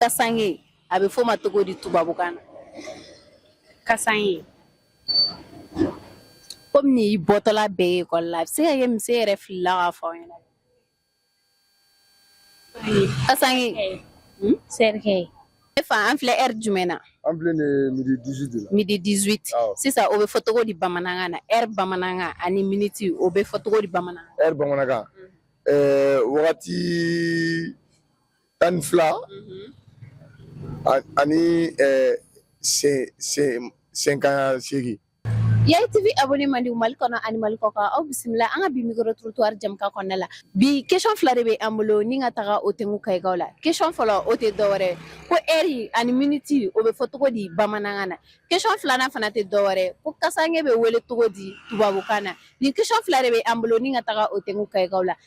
kasange a bɛ f'o ma cogo di tubabukan na kasange komi n'i bɔtɔla bɛɛ ye ekɔli la a bɛ se ka kɛ mise yɛrɛ filila k'a fɔ aw ɲɛna kasange hmm? sɛrikɛ ne fa an filɛ ɛri jumɛn na an filɛ nin ye midi 18 de la midi 18 awɔ sisan o bɛ fɔ cogo di bamanankan na ɛri bamanankan ani miniti o bɛ fɔ cogo di bamanankan ɛri bamanankan ɛɛ wagati tan ni fila ani sanga segin yayi tv abɔne mandiw mali kɔnɔ ani mali kɔkan aw bisimila an ka bi mikoro torotuwari jɛmukan kɔnɔna la bi kesɔn fila de bɛ an bolo ni ka taga o tɛnku kayikaw la kesɔn fɔlɔ o tɛ dɔwɛrɛ ko ɛri ani miniti o bɛ fɔ cogo di bamanankan na kesɔn filanan fana tɛ dɔwɛrɛ ko kasange bɛ wele cogo di tubabukan na nin kesɔn fila de bɛ an bolo ni ka taga o tɛnku kayikaw la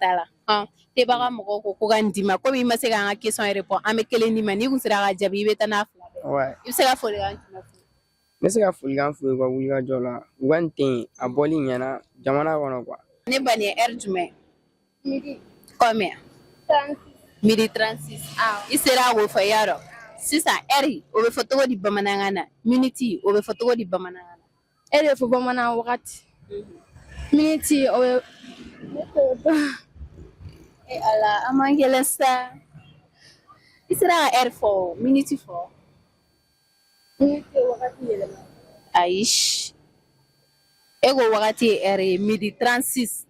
t'a la tebaga mɔgɔw ko ko ka nin d'i ma komi i ma se k'an ka kesɔn repɔn an bɛ kelen d'i ma n'i kun sera ka jaabi i bɛ taa n'a fila bɛɛ i bɛ se ka folikan jumɛn fɔ n bɛ se ka folikan f'u ye u ka wulikajɔ la u ka nin te a bɔli ɲɛna jamana kɔnɔ kuwa ne ba nin ye ɛri jumɛn midi combien midi 36 i sera k'o fɔ i y'a dɔn sisan ɛri o bɛ fɔ cogo di bamanankan na miniti o bɛ fɔ cogo di bamanankan na ɛri bɛ fɔ bamanan wagati miniti o ye e ala a man gɛlɛn sa i sera ka ɛri fɔ miniti fɔ ayi e ko wagati ye ɛri ye midi 36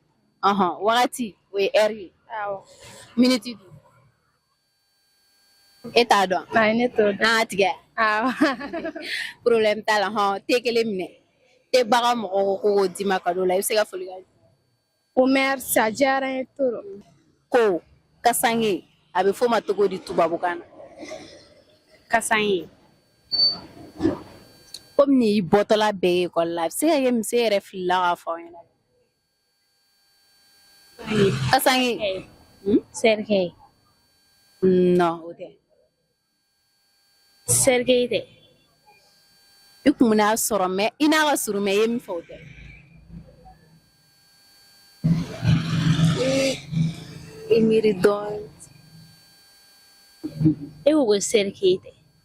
ɔhɔn wagati o ye ɛri ye miniti e t'a dɔn ayi ne t'o dɔn an k'a tigɛ awɔ problème t'a la hɔn te kelen minɛ tebaga mɔgɔw ko ko k'o d'i ma kado la i bɛ se ka foli kɛ o merci a diyara n ye trop ko kasange a bɛ f'o ma cogo di tubabukan na kasange komi n'i bɔtɔla bɛɛ ye ekɔli la a bɛ se ka kɛ mise yɛrɛ filila k'a fɔ aw ɲɛna Kasange. Hmm? Cercueil. Non, o tɛ. Cercueil tɛ. I kun bɛn'a sɔrɔ mɛ i n'a ka surun mɛ i ye min fɔ o tɛ. I miiri dɔɔnin. E ko ko cercueil tɛ.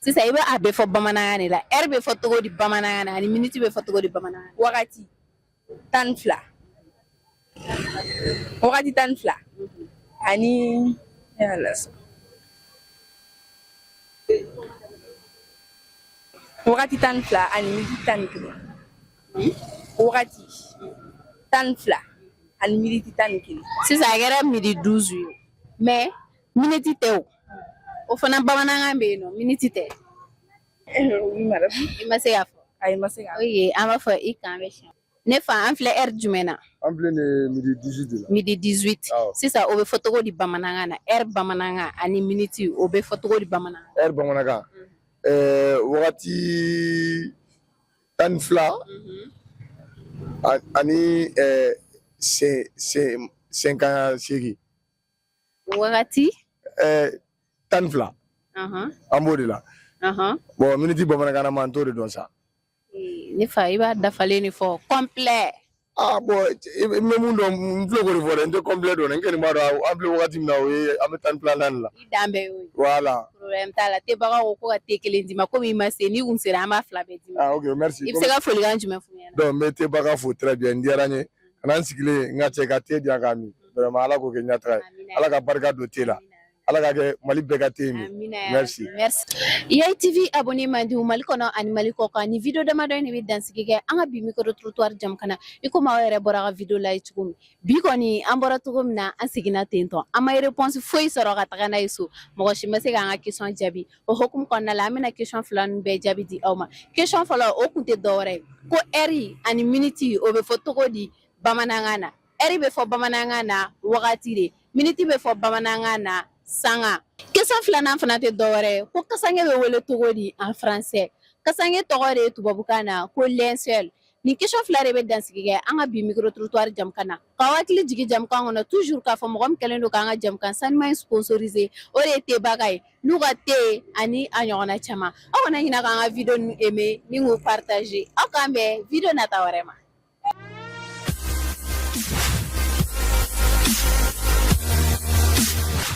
sisan i bɛ a bɛɛ fɔ bamanankan de la ɛri bɛ fɔ cogo di bamanankan na ani miniti bɛ fɔ cogo di bamanankan na wagati tan ni fila wagati tan ni fila ani wagati tan ni fila ani miniti tan ni kelen wagati tan ni fila ani miniti tan ni kelen sisan a kɛra midi duuzu ye mɛ miniti tɛ o o fana bamanankan bɛ yen non miniti tɛ oui madame i ma se k'a fɔ ayi ma se k'a fɔ o ye an b'i fo i k'an bɛn siɲɛ ne fa an filɛ ɛri jumɛn na an filɛ nin ye midi 18 de la midi 18 Awɔ. sisan o bɛ fɔ cogo di bamanankan na ɛri bamanankan ani miniti o bɛ fɔ cogo di bamanankan ɛri bamanankan ɛɛ wagati tan ni fila a- ani ɛɛ sen sen senkan seegin Wagati ɛɛ tan ni fila an b'o de la bɔn miniti bamanankan na ma n t'o de dɔn sa ne fa i b'a dafalen de fɔ kɔnplɛ aa bɔn n bɛ min dɔn n filɛ k'o de fɔ dɛ n tɛ kɔnplɛ dɔn n kɔni b'a dɔn an filɛ wagati min na o ye an bɛ tan fila naani la dan bɛɛ y'o ye voilà problème t'a la tebaga ko ko ka te kelen d'i ma komi i ma se n'i kun sera an b'a fila bɛɛ d'i ma i bɛ se ka folikan jumɛn fɔ donc n bɛ tebaga fo très bien n diyara n ye ka na n sigilen n ka cɛ ka te di yan k'a min vraiment ala k'o kɛ ɲɛtaga ye ala ka barika don te la ala k'a kɛ mali bɛɛ ka te ye merci yayi tv abonné mandi mali kɔnɔ ani mali kɔ kan nin video damadɔ in de bɛ dansigi kɛ an ka bi micro trottoir jɛmukan na i komi aw yɛrɛ bɔra ka video lajɛ cogo min bi kɔni an bɔra cogo min na an seginna ten tɔ an ma réponse foyi sɔrɔ ka taga n'a ye so mɔgɔ si ma se k'an ka question jaabi o hukumu kɔnɔna la an bɛna question fila ninnu bɛɛ jaabi di aw ma question fɔlɔ o kun tɛ dɔwɛrɛ ye ko ɛri ani miniti o bɛ fɔ cogo di bamanankan na ɛri bɛ fɔ bamanankan na wagati de miniti bɛ fɔ bamanankan na sanga question filanan fana tɛ dɔwɛrɛ ye ko kasange bɛ wele cogo di en français kasange tɔgɔ de ye tubabukan na ko linceul Nin question fila de bɛ dansigi kɛ an ka bi micro trottoir jɛmukan na, k'aw hakili jigin jɛmukan kɔnɔ toujours k'a fɔ mɔgɔ min kɛlen don k'an ka jɛmukan sanuman in sponsoriser o de ye Tebaga ye n'u ka te ani a ɲɔgɔnna caman, aw kana ɲinɛ k'an ka video ninnu aimer ni k'u partager aw k'an bɛn video nata wɛrɛ ma.